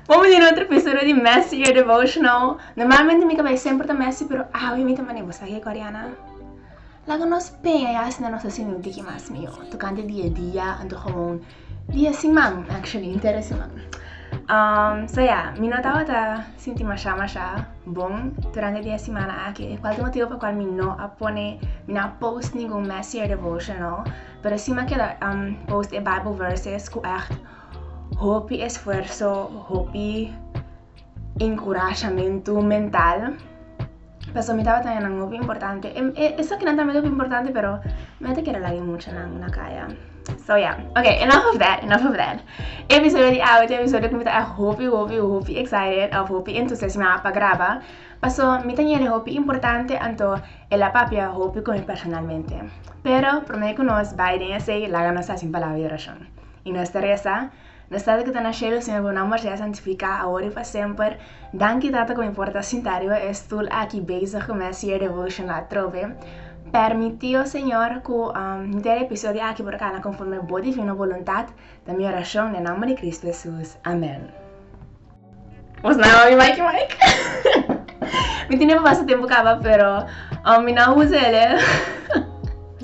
Momen di otro episodio di Messy Your Devotional. Normalmente mi cabay sempre ta messy, pero awe mi ta mane bo saki Koreana. Laga nos peña ya asina nos asino diki mas mio. Tocante dia dia, anto gewoon Di e siman, actually, inter e siman. Um, so ya, mi no tabata sinti masha masha bon durante di e simana aki, e cual di motivo pa cual mi no a pone, mi no a post ningun messier devotional, pero si ma keda um, post e Bible verses cu echt hopi esfuerzo, hopi Enkurashamentu mental. Paso mi tabata ya nan hopi importante. Em, e, esaki nan tambe hopi importante, pero mi ata kere lagi mucha nan na kaya. So yeah, okay, enough of that, enough of that. Episodio di awit, episodio ku mi ta hopi, hopi, hopi excited of hopi entusiasmá pa graba. Paso mi ta yende hopi importante, anto el a papia hopi ku mi personalmente. Pero promé ku nos bai den esei, laga nos hasi un palabra di orashon. I nos ta resa. Na stad ku ta na shelu Señor bo nomber sea santifiká awor i pa semper. Danki Tata ku mi por ta sintá riba e stul aki bezig ku mes year devotion atrobe. Permitio Señor ku mi ta e episodio aki por kana konforme bo divino boluntat. Ta mi orashon den nomber di Kristu Hesus. Amen. Mos na mami Mike Mike. mi tin e papá su tempo caba, pero um, mi na usa ele.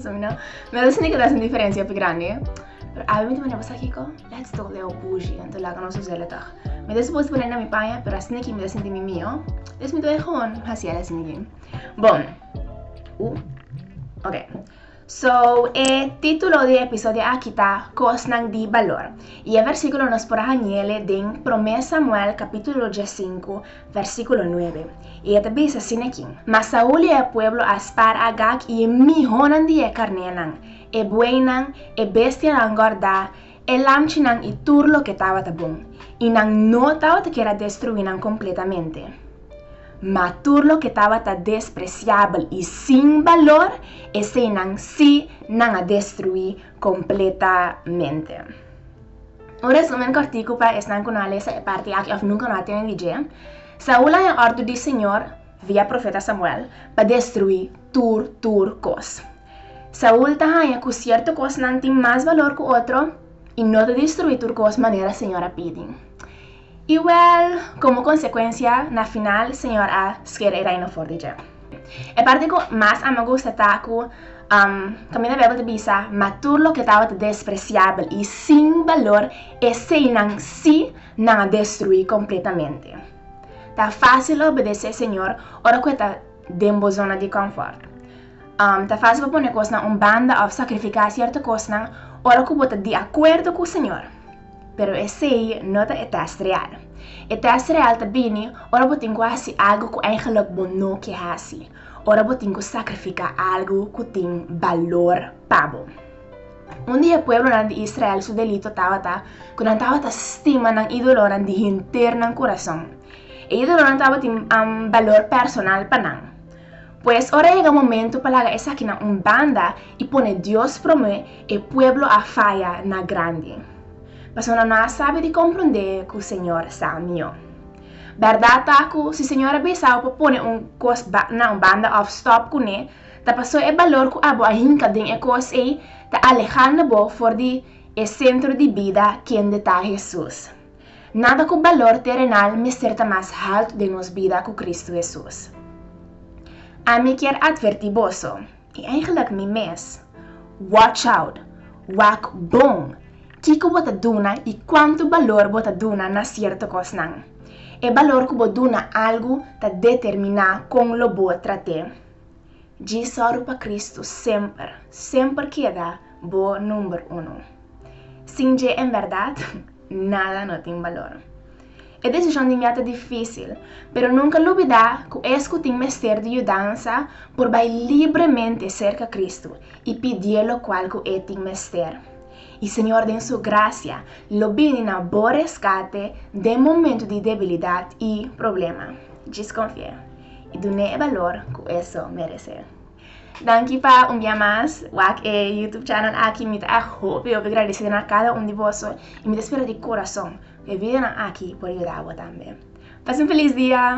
so mi na, mi no sinti que das un diferencia pe grande. Pero a mi te manda pasar kiko, let's do leo bougie, ento laga nos usa ele tag. Mi te supos poner na mi paña, pero así que mi te sinti mi mio. Des mi te gewoon, hasi ele así. Bon, u, ok. So, e titulo di e episodio aki ta, Kosnan di balor, i e versíkulo nos por a hañ'ele den Promé Samuel kapítulo diesinku, versíkulo nuebe, i e ta bisa sin ekin, Mas Saul i e pueblo a spar Agag i e mihonan di e karnénan, e bueinan, e bestianan gòrda, E lamchinan i tur loke tabata bon, i nan no tabata kier a destruí nan kompletamente. Ma tur loke tabata despresiabel i sin balor, eseinan sí nan a destruí kompletamente. Un resúmen kòrtiku pa esnan ku no a lesa e parti aki òf nunka no a tene di dje, Saul a haya òrdu di Señor, via profeta Samuel, pa destruí tur tur kos. Saul ta haña ku sierto kosnan tin mas balor ku otro i no ta destruí tur kos manera señor a pidi. I wèl, komo konsekuensia, na final señor a skeda e reino for di dje. E parti ku mas a mi a gusta ta ku kaminda Beibel ta bisa, Ma tur loke tabata despresiabel i sin balor, eseinan sí nan a destruí kompletamente. Ta fásil obedesé señor ora ku e ta den bo zona di kònfòrt. Ta fásil pa pone kosnan un banda òf sakrifiká sierto kosnan ora ku bo ta di akuerdo ku Señor. Pero esei no ta e tèst real. E tèst real ta bini ora bo tin ku hasi algu ku eingelik bo no ke hasi, ora bo tin ku sakrifiká algu ku tin balor pa bo. Un di e pueblonan di Israel su delito tabata ku nan tabata stima nan ídolonan di henter nan kurason. E ídolonan tabatin balor personal pa nan. Pues, ora a yega momentu pa laga esaki na un banda i pone Dios promé, e pueblo a faya na grandi. Pasobra no a sabi di komprondé ku Señor sa mihó. Bèrdat ta ku si Señor a bisa bo pa pone un kos na un banda òf stòp kuné, ta pasó e balor ku abo a hinka den e kos ei ta alehando bo for di e sentro di bida kende ta Hesus. Nada ku balor terenal mester ta mas haltu den nos bida ku Kristu Hesus. Ami kier atvertí boso, i eigenlik mi mes, Wòch out! Wak bon! Kiko bo ta duna i kuantu balor bo ta duna na sierto kosnan. E balor ku bo duna algu ta determiná kon lo bo trat'é. Djisòru pa Kristu semper, semper keda bo number unu. Sin dje en bèrdat nada no tin balor. E desishon di mia ta difísil, pero nunka lubidá ku es ku tin mester di yudansa por bai libremente serka Kristu i pidié lokual ku e tin mester. I Señor den Su grasia lo bini na bo reskate den momentu di debilidat i problema. Djis konfié. i dun'é e balor ku e so meresé. Danki pa un bia mas wak e YouTube channel aki. Mi ta èk hopi hopi gradesé na kada un di boso i mi ta spera di korason ku e videonan aki por yuda bo tambe. Pasa un felis dia!